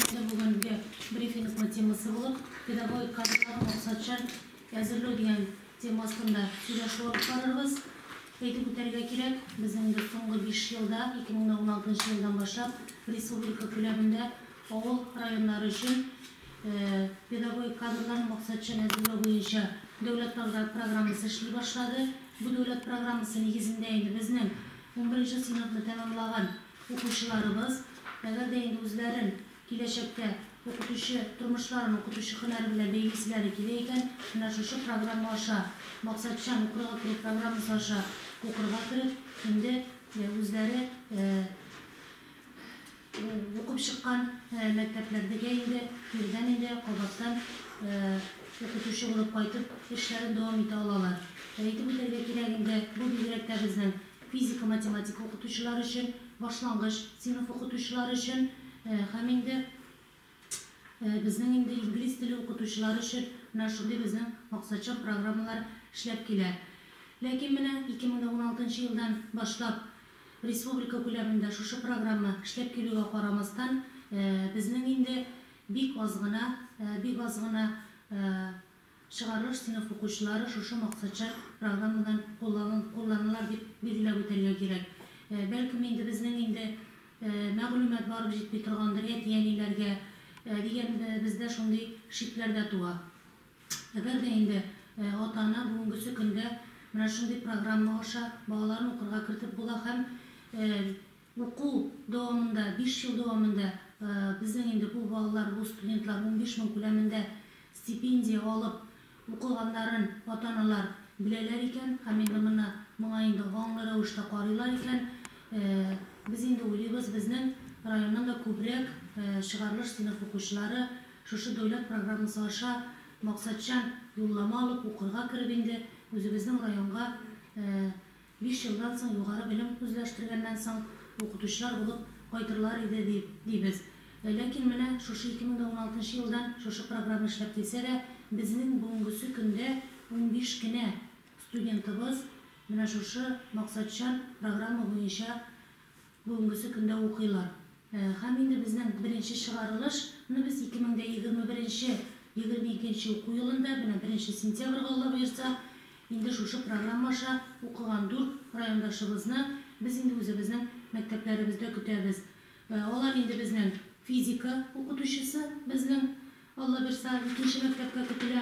Безнең бүгенге брифингның темасы булып, педагогик кадрларны максатчан әзерләү дигән тема астында сөйләшү алып барырбыз. Әйтеп үтәргә кирәк, безнең инде соңгы биш елда, 2016 елдан башлап, республика күләмендә авыл районнары өчен педагогик кадрларны максатчан әзерләү буенча дәүләт программасы эшли башлады. Бу дәүләт программасы нигезендә инде безнең унберенче сыйныфны тәмамлаган Укучыларыбыз, әгәр дә инде үзләрен киләчәктә укытучы тормышларын укытучы һөнәре белән бәйлиселәре килә икән, менә шушы программа аша, Максатчан укырга керү программасы аша укырга кереп, инде үзләре укып чыккан мәктәпләрдегә инде ирдән инде кабаттан укытучы булып кайтып эшләрен дәвам итә алалар. Әйтеп үтәргә кирәк инде, бу бигрәк тә безнең физика-математика укытучылары өчен, башлангыч сыйныф укытучылары өчен һәм инде безнең инде инглиз теле укытучылары өчен менә шундый безнең максатчан программалар эшләп килә. Ләкин менә 2016 нчы елдан башлап республика күләмендә шушы программа эшләп килүгә карамастан, безнең инде бик аз гына, бик аз гына Чыгарылыш сыйныф укучылары шушы максатчан программадан кулланылар дип билгеләп үтәргә кирәк. Бәлкем инде безнең инде мәгълүмат барып җитми торгандыр әти-әниләргә дигән бездә шундый шикләр дә туа. Әгәр дә инде ата-ана бүгенгесе көндә менә шундый программа аша балаларын укырга кертеп була һәм Уку дәвамында, биш ел дәвамында безнең инде бу балалар, бу студентлар унбиш мең күләмендә стипендия алып укыганнарын ата-аналар беләләр икән һәм инде моны моңа инде аңлы рәвештә карыйлар икән. Без инде уйлыйбыз, безнең районнан да күбрәк чыгарылыш сыйныф укучылары шушы дәүләт программасы аша максатчан юллама алып укырга кереп инде үзебезнең районга Биш елдан соң югары белем үзләштергәннән соң укытучылар булып кайтырлар иде ди, дибез. Ләкин менә шушы 2016 нчы елдан шушы программа эшләп килсә дә, безнең бүгенгесе көндә унбиш кенә студентыбыз менә шушы максатчан программа буенча, Бүгенгесе көндә укыйлар. Һәм инде безнең беренче чыгарылыш ны без 2021 22 нче уку елында, менә 1 сентябрьгә, Алла боерса, инде шушы программа аша укыган дүрт райондашыбызны без инде үзебезнең мәктәпләребездә көтәбез. Алар инде безнең физика укытучысы безнең, Алла боерса, икенче мәктәпкә көтелә.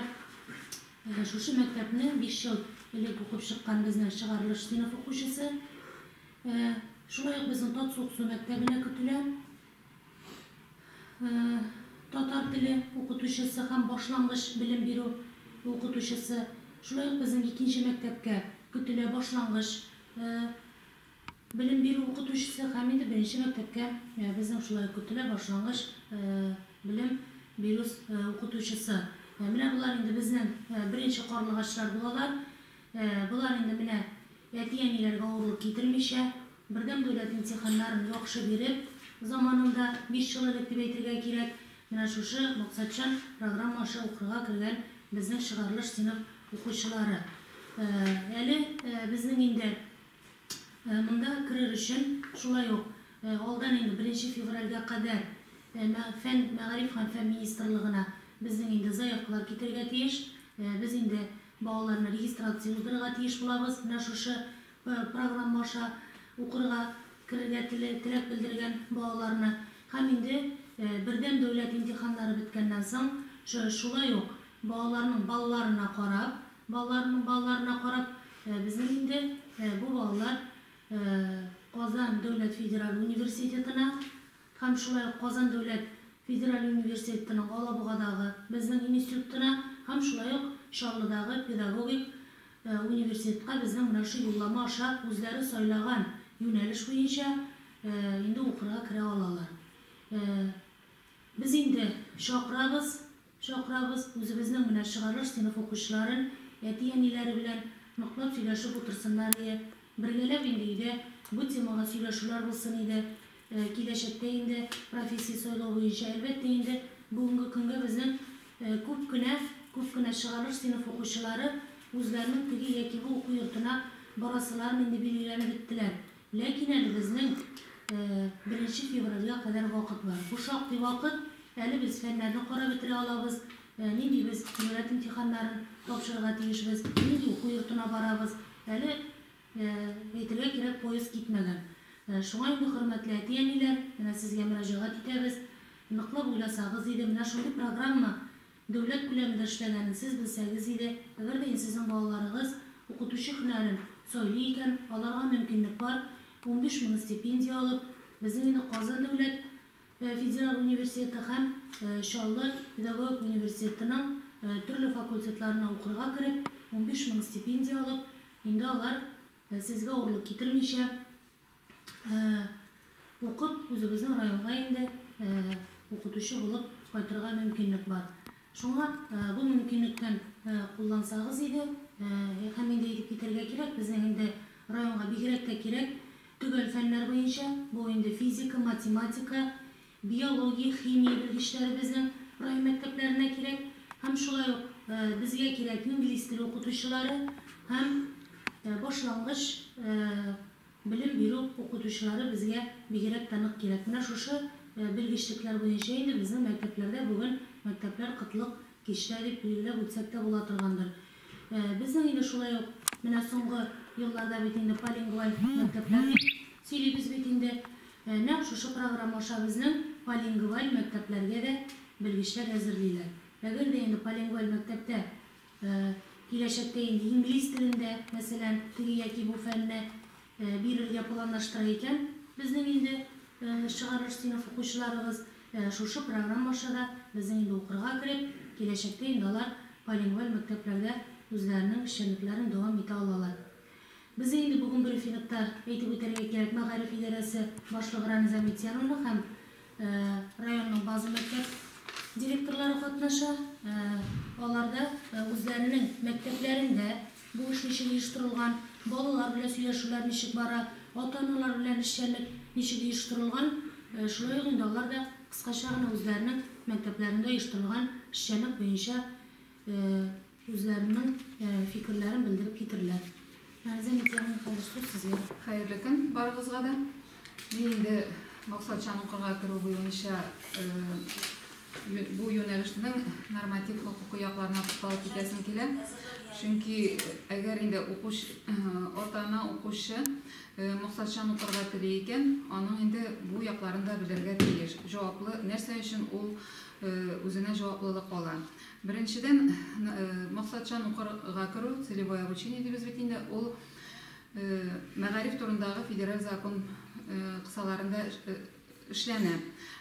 Шушы мәктәпнең биш ел элек укып чыккан безнең чыгарылыш сыйныф укучысы. Шулай ук безнең Татсу-Ксу мәктәбенә көтелә. Татар теле укытучысы һәм башлангыч белем бирү укытучысы. Шулай ук безнең икенче мәктәпкә көтелә башлангыч белем бирү укытучысы һәм инде беренче мәктәпкә безнең шулай ук көтелә башлангыч белем бирү укытучысы. Менә болар инде безнең беренче карлыгачлар булалар. Болар инде менә әти-әниләргә авырлык китермичә, бердәм дәүләт имтиханнарын яхшы биреп, заманында, биш ел элек дип әйтергә кирәк, менә шушы максатчан программа аша укырга кергән безнең чыгарылыш сыйныф укучылары. Әле безнең инде монда керер өчен шулай ук алдан инде беренче февральгә кадәр фән, мәгариф һәм фән министрлыгына безнең инде заявкалар китергә тиеш. Без инде Балаларны регистрация уздырырга тиеш булабыз, менә шушы программа аша укырга керергә теләк белдергән балаларны. Һәм инде бердәм дәүләт имтиханнары беткәннән соң, шулай ук балаларның балларына карап, балаларның балларына карап, безнең инде бу балалар Казан дәүләт федераль университетына, һәм шулай ук Казан дәүләт федераль университетының Алабугадагы безнең институтына һәм шулай ук Чаллыдагы педагогик университетка безнең менә шул юллама аша үзләре сайлаган юнәлеш буенча инде укырга керә алалар. Без инде чакырабыз. Чакырабыз, үзебезнең менә чыгарылыш сыйныф укучыларын әти-әниләре белән ныклап сөйләшеп утырсыннар иде. Бергәләп инде өйдә бу темага сөйләшүләр булсын иде. Киләчәктә инде профессия сайлау буенча, әлбәттә инде, бүгенге көнгә безнең күп кенә, күп кенә чыгарылыш сыйныф укучылары үзләренең теге яки бу уку йортына барасыларын инде билгеләнеп беттеләр. Ләкин әле безнең беренче февральгә кадәр вакыт бар. Бу шактый вакыт, әле без фәннәрне карап бетерә алабыз, нинди без дәүләт имтиханнарын тапшырырга тиешбез, нинди уку йортына барабыз, әле, әйтергә кирәк, поезд китмәгән. Шуңа инде, хөрмәтле әти-әниләр, менә сезгә мөрәҗәгать итәбез, ныклап уйласагыз иде, менә шундый программа Дәүләт күләмендә эшләгәнен сез белсәгез иде, әгәр дә сезнең балаларыгыз укытучы һөнәрен сайлый икән, аларга мөмкинлек бар, унбиш мең стипендия алып, безнең инде Казан дәүләт федераль университеты һәм Чаллы педагогик университетының төрле факультетларына укырга кереп, унбиш мең стипендия алып, инде алар сезгә авырлык китермичә, Укып, үзебезнең районга инде укытучы булып кайтырга мөмкинлек бар. Шуңа бу мөмкинлектән куллансагыз иде. Һәм инде әйтеп китәргә кирәк, безнең инде районга бигрәк тә кирәк төгәл фәннәр буенча, бу инде физика, математика, Биология, химия белгечләребезнең раймәктәпләренә кирәк һәм шулай ук безгә кирәк инглиз теле укытучылары һәм башлангыч белем бирү укытучылары безгә бигрәк тә нык кирәк. Менә шушы белгечлекләр буенча инде безнең мәктәпләрдә бүген мәктәпләр кытлык кичтә дип билгеләп үтсәк тә була торгандыр. Безнең инде шулай ук менә соңгы елларда бит инде полингваль мәктәпләр дип сөйлибез бит инде. Нәкъ шушы программа аша безнең полингваль мәктәпләргә дә белгечләр әзерлиләр. Әгәр дә инде полингваль мәктәптә киләчәктә инде инглиз телендә, мәсәлән, теге яки бу фәнне бирергә планлаштыра икән безнең инде чыгарылыш сыйныф укучыларыбыз, шушы программа аша да безнең инде укырга кереп, киләчәктә инде алар полингваль мәктәпләрдә үзләренең эшчәнлекләрен дәвам итә алалар. Бездә инде бүген брифингта әйтеп үтәргә кирәк, мәгариф идарәсе башлыгы Рамиза Митянова һәм районның база мәктәп директорлары катнаша. Алар да үзләренең мәктәпләрендә бу эш ничек оештырылган, балалар белән сөйләшүләр ничек бара, ата-аналар белән эшчәнлек ничек оештырылган, шулай ук инде алар да кыскача гына үзләренең мәктәпләрендә оештырылган эшчәнлек буенча Үзләренең фикерләрен белдереп китерләр. Мәрзия Митяевна, хәзер сүз сезгә. Хәерле көн барыгызга да. Мин инде максатчан укырга керү буенча бу юнәлешнең норматив хокукый якларына тукталып китәсем килә. Чөнки әгәр инде ата-ана укучы максатчан укырга тели икән, аның инде бу якларын да белергә тиеш. Җаваплы, нәрсә өчен ул үзенә җаваплылык ала. Беренчедән, максатчан укырга керү, целевое обучение дибез бит инде, ул мәгариф турындагы федераль закон кысаларында эшләнә.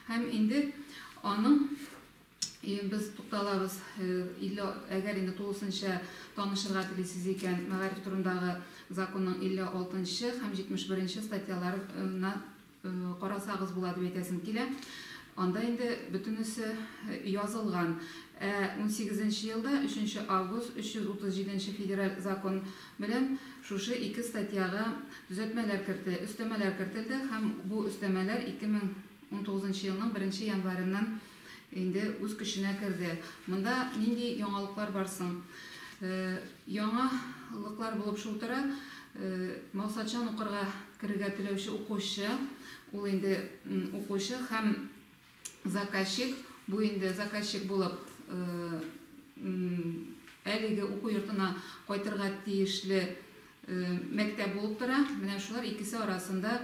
Һәм инде аның без тукталабыз, илле, әгәр инде тулысынча танышырга телисез икән, мәгариф турындагы законның илле алтынчы һәм җитмеш беренче статьяларына Карасагыз була дип әйтәсем килә. Анда инде бөтенесе язылган. Ә унсигезенче елда, өченче август, 337 нче федераль закон белән шушы ике статьяга төзәтмәләр керте, өстәмәләр кертелде һәм бу өстәмәләр 2019 елның беренче январеннан инде үз көченә керде. Монда нинди яңалыклар бар соң? Яңа лыклар булып шул тора, максатчан укырга керергә теләүче укучы, ул инде укучы һәм заказчик, бу инде заказчик булып әлеге уку йортына кайтырга тиешле мәктәп булып тора. Менә шулар икесе арасында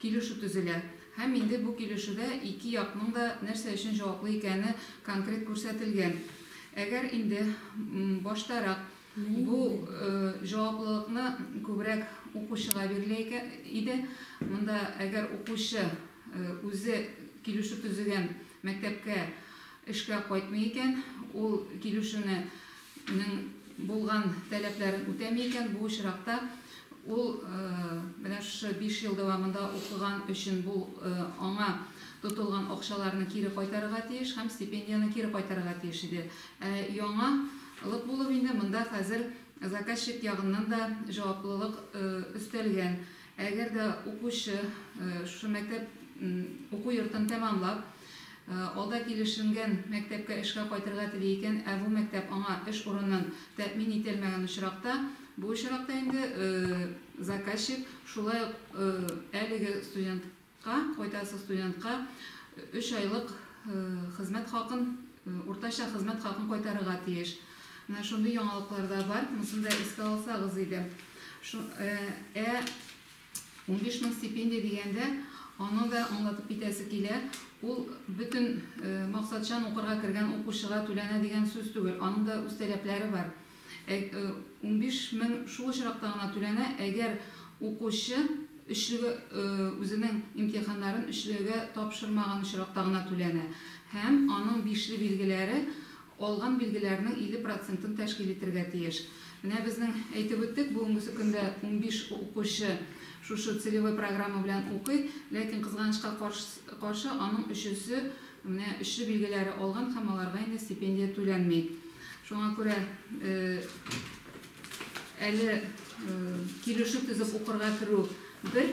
килешү төзелә. Һәм инде бу килешүдә ике якның да нәрсә өчен җаваплы икәне конкрет күрсәтелгән. Әгәр инде баштарак бу җаваплылыкны күбрәк укучыга бирелә иде, монда әгәр укучы үзе килешү төзегән мәктәпкә эшкә кайтмый икән, ул килешүне нең булган таләпләрен үтәми икән, бу очракта ул менә шушы биш ел дәвамында укыган өчен бу аңа тотылган акчаларны кире кайтарырга тиеш һәм стипендияне кире кайтарырга тиеш иде. Ә яңа лык булып инде монда хәзер заказчик ягыннан да җаваплылык өстәлгән. Әгәр дә укучы шушы мәктәп уку йортын тәмамлап, алда килешенгән мәктәпкә эшкә кайтырга тели икән, ә бу мәктәп аңа эш урынын тәэмин ителмәгән очракта, бу очракта инде заказчик шулай ук әлеге студент Ка, кайтасы студентка өч айлык хезмәт хакын, уртача хезмәт хакын кайтарырга тиеш. Менә шундый яңалыклар да бар, монысын да искә алсагыз иде. Шу, э, ә 15 мең стипендия дигәндә, аны да аңлатып китәсе килә, ул бөтен э, максатчан укырга кергән укучыга түләнә дигән сүз түгел, аның да үз таләпләре бар. унбиш мең шул очракта гына түләнә, әгәр укучы өчлегә үзенең имтиханнарын өчлегә тапшырмаган очракта гына түләнә һәм аның бишле билгеләре алган билгеләрнең 50 процентын тәшкил итергә тиеш. Менә безнең әйтеп үттек, бүгенгесе көндә унбиш укучы шушы целевой программа белән укый, ләкин кызганычка каршы аның өчесе Менә эшче билгеләре алган һәм аларга инде стипендия түләнми. Шуңа күрә әле килешү төзеп укырга керү бер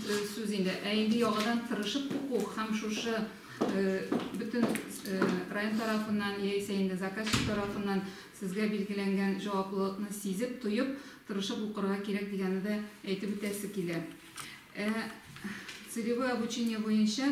сүз инде, ә инде яңадан тырышып уку һәм шушы бөтен район тарафыннан яисә инде заказчик тарафыннан сезгә билгеләнгән җаваплылыкны сизеп, тоеп, тырышып укырга кирәк дигәнне дә әйтеп үтәсе килә. Ә целевое обучение буенча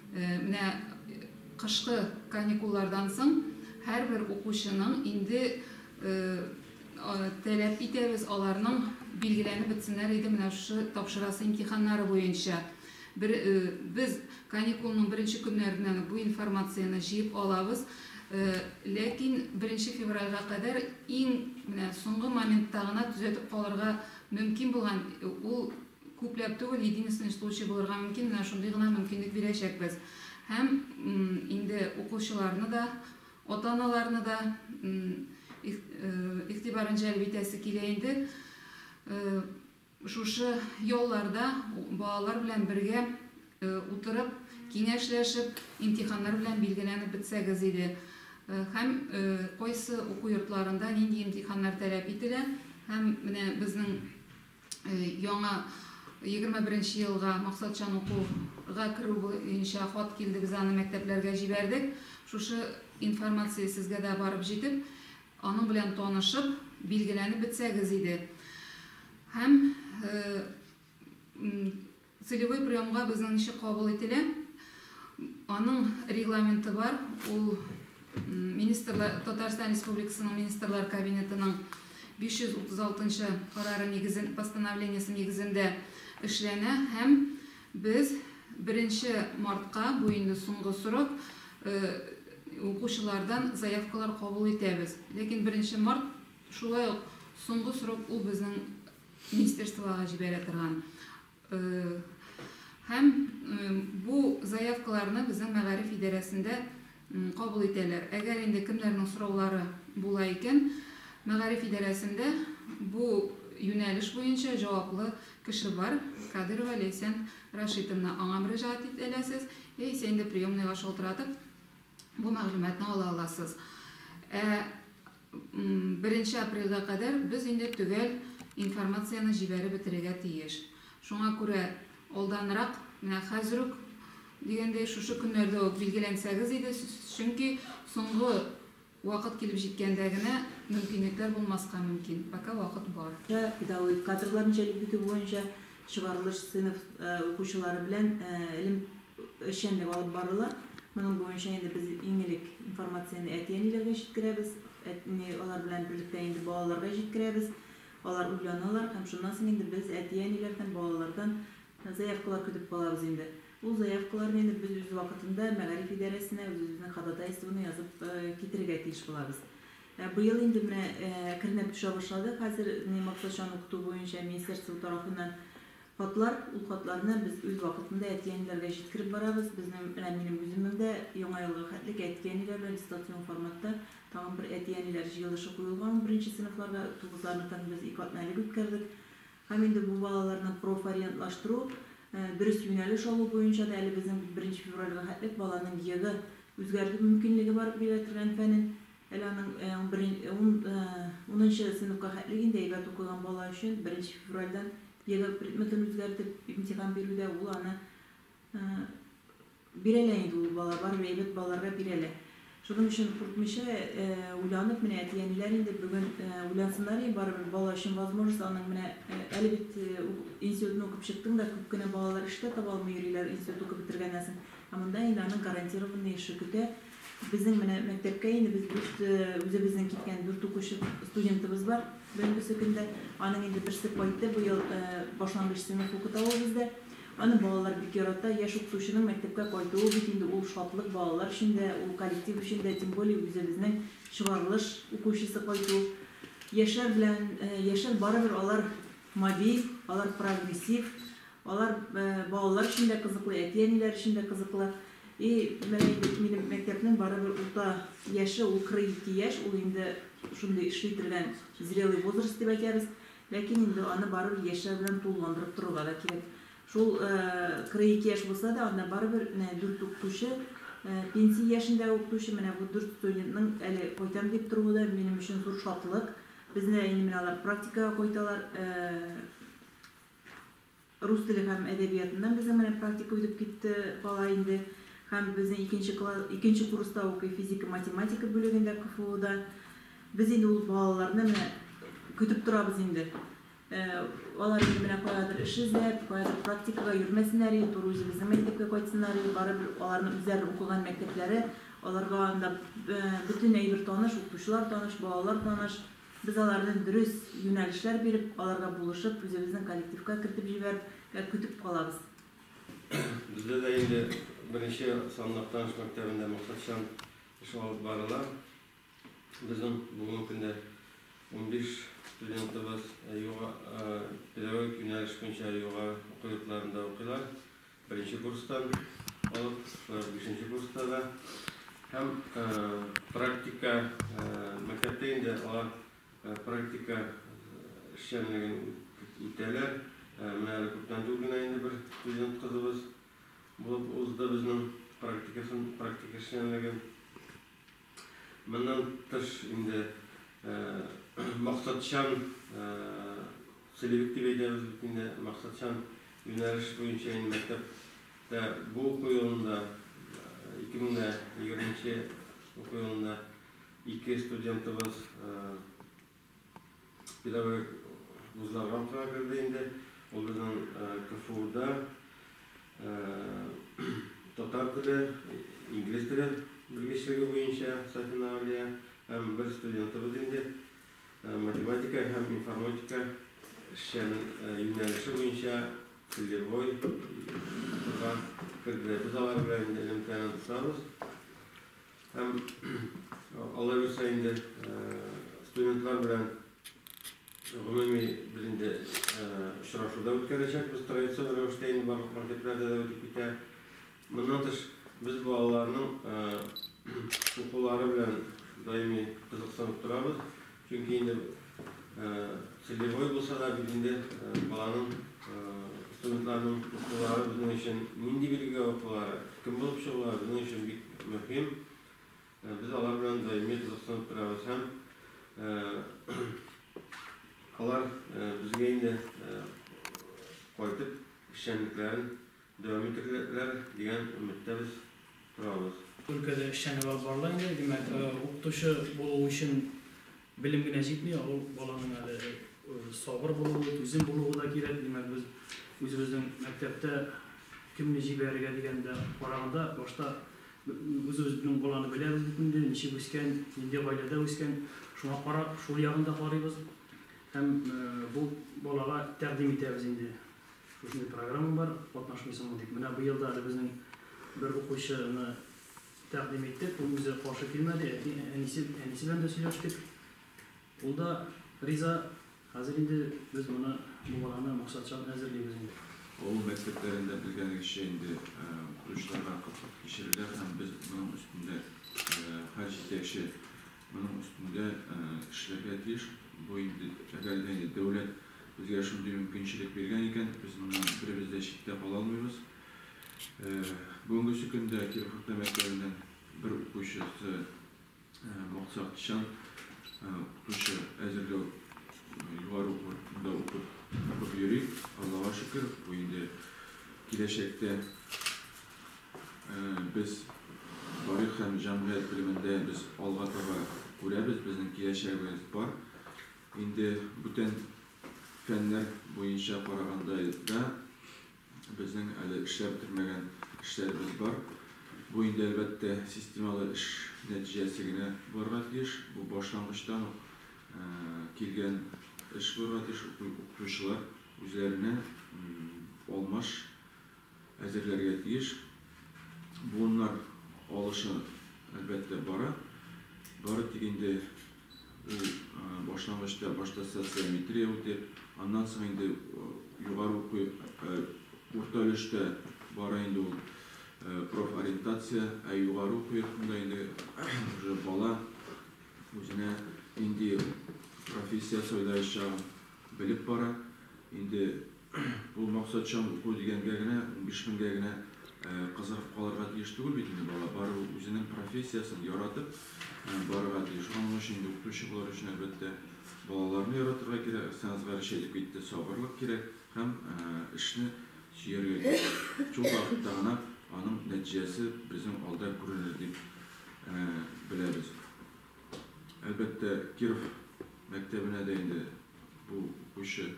Менә кышкы каникуллардан соң һәрбер укучының инде таләп итәбез аларның билгеләнеп бетсеннәр иде менә шушы тапшырасы имтиханнары буенча. Без каникулның беренче көннәреннән үк бу информацияне җыеп алабыз. Ләкин беренче февральгә кадәр иң менә соңгы моментта гына төзәтеп калырга мөмкин булган ул Күпләп түгел, единственный случай булырга мөмкин, менә шундый гына мөмкинлек бирәчәкбез. Һәм инде укучыларны да, ата-аналарны да игътибарын җәлеп итәсе килә инде, шушы ялларда балалар белән бергә утырып, киңәшләшеп, имтиханнар белән билгеләнеп бетсәгез иде. Һәм кайсы уку йортларында нинди имтиханнар таләп ителә, һәм менә безнең Яңа егерме беренче елга максатчан укуга керү буенча хат килде, без аны мәктәпләргә җибәрдек. Шушы информация сезгә дә барып җитеп, аның белән танышып, билгеләнеп бетсәгез иде. Һәм Целевой приемга безнең ничек кабул ителә? Аның регламенты бар, ул министрлар, Татарстан Республикасының Министрлар Кабинетының 536 нчы карары нигезен, постановлениесе нигезендә эшләнә һәм без беренче мартка, бу инде соңгы срок, укучылардан заявкалар кабул итәбез. Ләкин беренче март шулай ук соңгы срок, ул безнең министерствога җибәрә торган һәм бу заявкаларны безнең мәгариф идарәсендә кабул итәләр. Әгәр инде кемнәрнең сораулары була икән, мәгариф идарәсендә бу юнәлеш буенча җаваплы кеше бар, Кадырова Ләйсән Рашитовна, аңа мөрәҗәгать итәләсез, яисә инде приемныйга шалтыратып, бу мәгълүматны ала аласыз. Ә Беренче апрельгә кадәр без инде төгәл информацияне җибәреп бетерергә тиеш. Шуңа күрә алданрак, менә хәзер үк, дигәндәй, шушы көннәрдә үк билгеләнсәгез иде, чөнки соңгы вакыт килеп җиткәндә генә мөмкинлекләр булмаска мөмкин. Пока вакыт бар. Педагогик кадрларны җәлеп итү буенча Чыгарылыш сыйныф укучылары белән элем эшчәнлеге алып барыла. Моның буенча инде без иң элек информацияне әти-әниләргә җиткерәбез. Әтни алар белән берлектә инде балаларга җиткерәбез. Алар уйланалар һәм шуннан соң инде без әти-әниләрдән, балалардан заявкалар көтеп калабыз инде. Ул заявкаларны инде без үз вакытында мәгариф идарәсенә үзебезнең ходатайствоны язып китерергә тиеш булабыз. Ә быел инде менә әкренләп төшә башлады. Хәзер ни максатчан укыту буенча министерство тарафыннан хатлар, ул хатларны без үз вакытында әти-әниләргә җиткереп барабыз. Безнең менә минем үземнең дә Яңа елга хәтлек әти-әниләр белән дистанцион форматта тагын бер әти-әниләр җыелышы куелган ул беренче сыйныфларга. Тугызларныкын без ике атнәлек үткәрдек. Һәм инде бу балаларны профориентлаштыру, дөрес юнәлеш алу буенча да әле безнең бит беренче февральгә хәтлек баланың егы үзгәртү мөмкинлеге бар, бирелә торган фәнен. Әле аның унынчы сыйныфка хәтле инде әйбәт укыган бала өчен беренче февральдән ЕГЭ предметын үзгәртеп имтихан бирүдә ул аны бирә лә инде ул бала, барыбер әйбәт балаларга бирә лә. Шуның өчен куркмыйча, уйланып, менә әти-әниләр инде бүген уйлансыннар иде, барыбер бала өчен возможность аның менә әле бит институтны укып чыктың да, күп кенә балалар эш тә таба алмый йөриләр институт укып бетергәннән соң. Ә монда инде аның гарантированный эше көтә. Безнең менә мәктәпкә инде без дүрт үзебезнең киткән дүрт укучы студентыбыз бар. Бүгенге көндә аның инде берсе кайтты, бу ел башлангыч сыйныф укыта ул бездә. Аны балалар бик ярата. Яшь укытучының мәктәпкә кайтуы бит инде ул шатлык балалар өчен дә, ул коллектив өчен дә, тем более үзебезнең чыгарылыш укучысы кайту. Яшьләр белән, яшьләр барыбер алар мобиль, алар прогрессив, алар балалар өчен дә кызыклы, әти-әниләр өчен дә кызыклы. И менә инде минем мәктәпнең барыбер урта яше ул кырык ике яшь, ул инде шундый эшли торган зрелый возраст дип әйтәбез, ләкин инде аны барыбер яшьләр белән тулыландырып торырга да кирәк. Шул кырык ике яшь булса да, анда барыбер менә дүрт укытучы, пенсия яшендәге укытучы, менә бу дүрт студентның әле кайтам дип торуы да минем өчен зур шатлык. Безне инде менә алар практикага кайталар. Рус теле һәм әдәбиятыннан безнең менә практика үтеп китте бала инде һәм безнең икенче класс, икенче курста укый физика-математика бүлегендә КФУда. Без инде ул балаларны менә көтеп торабыз инде. Алар инде менә каядыр эш эзләп, каядыр практикага йөрмәсеннәр иде, туры үзебезнең мәктәпкә кайтсыннар иде. Барыбер аларның үзләре укыган мәктәпләре, аларга анда бөтен әйбер таныш, укытучылар таныш, балалар таныш. Без аларны дөрес юнәлешләр биреп, аларга булышып, үзебезнең коллективка кертеп җибәрп кә көтеп калабыз. Бездә дә инде беренче санлы Актаныш мәктәбендә максатчан эш алып барыла. Безнең бүгенге көндә унбиш студентыбыз юга педагогик юнәлеш буенча югары уку йортларында укыйлар. Беренче курстан алып, бишенче курста да һәм практика мәктәптә инде алар практика эшчәнлеген үтәләр. Менә әле күптән түгел генә инде бер студент кызыбыз булып узды безнең практикасын, практика эшчәнлеген. Моннан тыш инде максатчан, целевик дип әйтәбез бит инде, максатчан юнәлеш буенча инде мәктәптә бу уку елында, 2020 нче уку елында ике студентыбыз, Педагогик вузларга укырга керде инде. Ул безнең КФУда татар теле, инглиз теле белгечлеге буенча Сафина Алия һәм бер студентыбыз инде математика һәм информатика эшчән юнәлеше буенча целевой укырга керделәр. Без алар белән элемтәне тотабыз. Һәм алай булса инде студентлар белән гомуми без инде очрашуда үткәрәчәкбез традицион рәвештә инде барлык мәктәпләрдә дә үтеп китә. Моннан тыш без балаларның укулары белән даими кызыксынып торабыз. Чөнки инде целевой булса да бит инде баланың студентларның укулары безнең өчен нинди билгегә укулары, кем булып чыгуы безнең өчен бик мөһим. Без алар белән даими кызыксынып торабыз һәм алар безгә инде кайтып эшчәнлекләрен Дәвам итерләр дигән өметтә без торабыз. Өлкәдә эшчәнлек алып барыла инде. Димәк, укытучы булу өчен белем генә җитми, ә ул баланың әле сабыр булуы, түзем булуы да кирәк. Димәк, без үзебезнең мәктәптә кемне җибәрергә дигәндә караганда, башта үзебезнең баланы беләбез бит инде, ничек үскән, нинди гаиләдә үскән, шуңа карап, шул ягын да карыйбыз һәм бу балага тәкъдим итәбез инде. Шушындый программа бар, катнашмыйсыңмы дип. Менә быел да әле безнең бер укучыны тәкъдим иттек. Ул үзе каршы килмәде, әти, әнисе, әнисе белән дә сөйләштек. Ул да риза. Хәзер инде без моны, бу баланы максатчан әзерлибез инде. Авыл мәктәпләрендә белгәнегезчә инде укытучыларга кытлык кичерәләр һәм без моның өстендә һәр җитәкче Моның өстендә эшләргә тиеш. Бу инде, әгәр дә инде дәүләт безгә шундый мөмкинчелек биргән икән, без моннан беребез дә читтә кала алмыйбыз. Бүгенгесе көндә Киров урта мәктәбенең бер укучысы максатчан укытучы әзерләү югары уку йортында укып йөри. Аллага шөкер, бу инде киләчәктә Без тарих һәм җәмгыять белемендә без алга таба күрәбез, безнең киләчәгебез бар. Инде бүтән фәннәр буенча караганда да безнең әле эшләп бетермәгән эшләребез бар. Бу инде, әлбәттә, системалы эш нәтиҗәсе генә булырга тиеш. Бу башлангычтан ук килгән эш булырга тиеш. Укытучылар үзләренә алмаш әзерләргә тиеш. Буыннар алышы, әлбәттә, бара. Бары тик инде ул башлангычта башта социометрия үтеп, аннан соң инде югары уку, урта өлештә бара инде ул профориентация, ә югары уку йортында инде уже бала үзенә нинди профессия сайлаячагын белеп бара. Инде Бу максатчан уку дигәнгә генә, унбиш меңгә генә кызыгып калырга тиеш түгел бит инде бала. Барыбер үзенең профессиясен яратып барырга тиеш. Аның өчен инде укытучы булыр өчен, әлбәттә, балаларны яратырга кирәк, Әхсәназга рәшә әйтеп китте, сабырлык кирәк һәм эшне сөяргә кирәк. Шул вакытта гына аның нәтиҗәсе безнең алда күренер дип беләбез. Әлбәттә, Киров мәктәбенә дә инде бу укучы,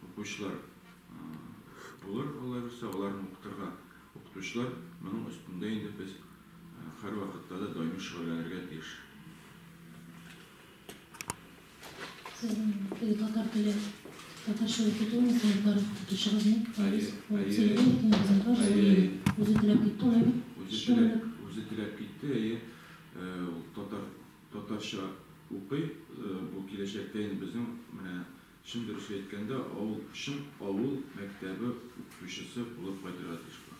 укучылар булыр, алай булса, аларны укытырга укытучылар, моның өстендә инде без һәрвакытта да даими шөгыльләнергә тиеш. Сезнең татар теле, татарча укыту механиклары укытучыгыз ни? Әйе, әйе, әйе, әйе. Үзе теләп китте, алай бит? Үзе теләп китте, әйе. Ул татар татарча укый. Бу киләчәктә инде безнең менә чын дөресен әйткәндә авыл чын авыл мәктәбе укытучысы булып кайтырга тиеш була.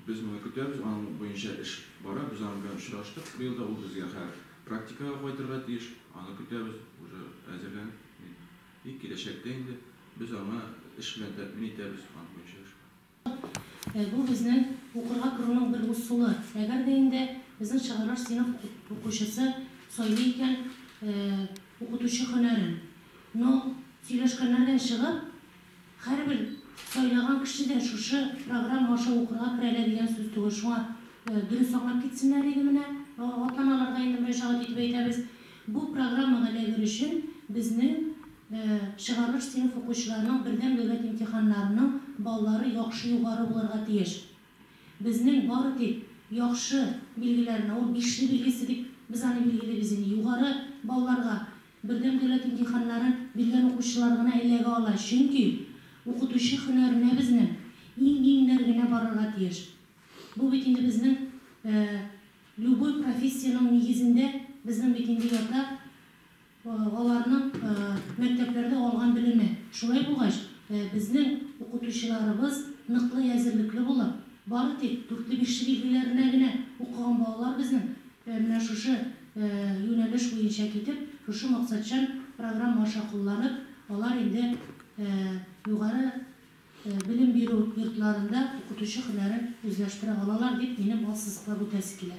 Без моны көтәбез, аның буенча эш бара, без аның белән очраштык быел да, ул безгә хәзер практикага кайтырга тиеш, аны көтәбез, уже әзерләнеп бит. И киләчәктә инде без аңа эш белән тәэмин итәбез, аның буенча эш бар. Бу безнең укырга керүнең бер усулы. Әгәр дә инде безнең чыгарылыш сыйныф укучысы сайлый икән укытучы һөнәрен. Но сөйләшкәннәрдән чыгып, һәрбер сайлаган кеше дә шушы программа аша укырга керә әле дигән сүз түгел. Шуңа дөрес аңлап китсеннәр иде менә. Атламаларга инде мөрәҗәгать итеп әйтәбез. Бу программага эләгер өчен безнең чыгарылыш сыйныф укучыларының бердәм дәүләт имтиханнарының баллары яхшы югары булырга тиеш. Безнең бары тик яхшы билгеләрне, ул бишле билгесе дип без аны билгелибез инде, югары балларга бердәм дәүләт имтиханнарын биргән укучылар гына эләгә ала, чөнки укытучы һөнәренә безнең иң-иңнәр генә барырга тиеш. Бу бит инде безнең Любой профессиянең нигезендә безнең бит инде ята аларның мәктәпләрдә алган белеме. Шулай булгач, безнең укытучыларыбыз ныклы әзерлекле булып, бары тик дүртле-бишле билгеләренә генә укыган балалар безнең менә шушы юнәлеш буенча китеп, шушы максатчан программа аша кулланып, алар инде югары Белем бирү йортларында укытучы һөнәрен үзләштерә алалар, дип минем ассызыклап үтәсе килә.